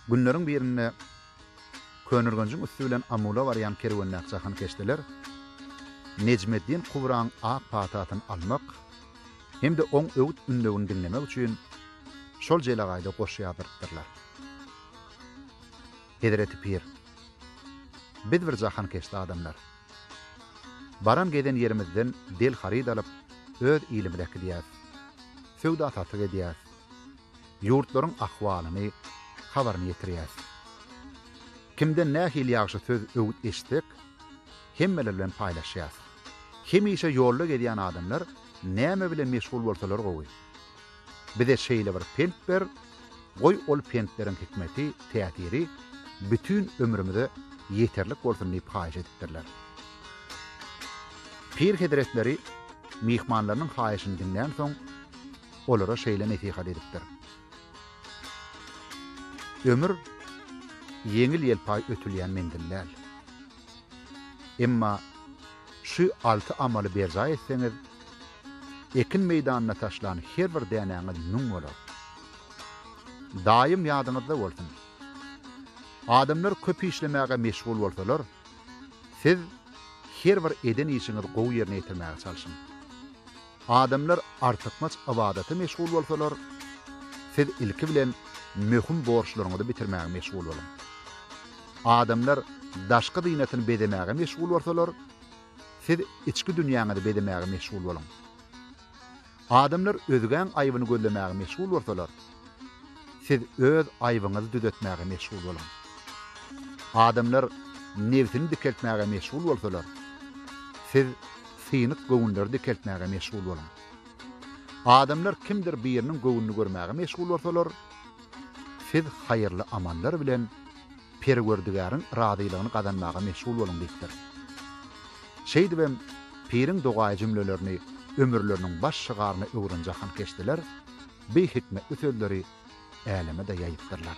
Günleriň birinde Könürgenjiň üsti bilen Amula barýan kerwendäki jahankeşdeler Nejmeddin Kubraň ak patasyny almak hem-de oň öwüt-ündewini diňlemek üçin şol jelegaýda goşy ýazdyrypdyrlar. Hezreti pir, Biz bir jahankeşde adamlar. Baran-gezen ýerimizden del-haryt alyp, öz ilimize äkidýäris. Söwda-satyk edýäris. ýurtlaryň ahwalyny, habaryny ýetirýäs. Kimden nähili ýagşy söz, öwüt eşitsek, hemmeler bilen paýlaşýas. Hemişe ýolda gezýän adamlar näme bilen meşgul bolsalar gowy? Bize şeýle bir pent ber, goý ol pentleriň hikmeti, täsiri bütin ömrümize ýeterlik bolsun diýip haýyş edipdirler. Pir hezretleri myhmanlarynyň haýyşyny diňlänsoň, olara şeýle nesihat edipdir. Ömür ýeňil-ýelpaý ötülýän menzil däl. Emma şu alty amaly berjaý etseňiz, ekin meýdanyna taşlan her bir dänäňiz müň bolar. Daýym ýadyňyzda bolsun! Adamlar köp işlemäge meşgul bolsalar, siz her bir eden işiňizi gowy ýerine ýetirmäge çalşyň. Adamlar artykmaç ybadata meşgul bolsalar, siz ilki bilen möhüm borçlaryňyzy bitirmäge meşgul boluň. Adamlar daşky zynatyny bezemäge meşgul bolsalar, siz içki dünýäňizi bezemäge meşgul boluň. Adamlar özgäň aýbyny gözlemäge meşgul bolsalar, Siz öz aýbyňyzy düzetmäge meşgul boluň. Adamlar nebsini dikeltmäge meşgul bolsalar, siz synyk göwünleri dikeltmäge meşgul boluň. Adamlar kimdir biriniň göwnüni görmäge meşgul bolsalar, siz haýyrly amallar bilen Perwerdigäriň razylygyny gazanmaga meşgul boluň diýipdir. Şeýdibem piriň dogaýy jümlelerini ömürleriniň baş şygaryna öwren jahankeşdeler, beý hikmetli sözleri äleme-de ýaýypdyrlar.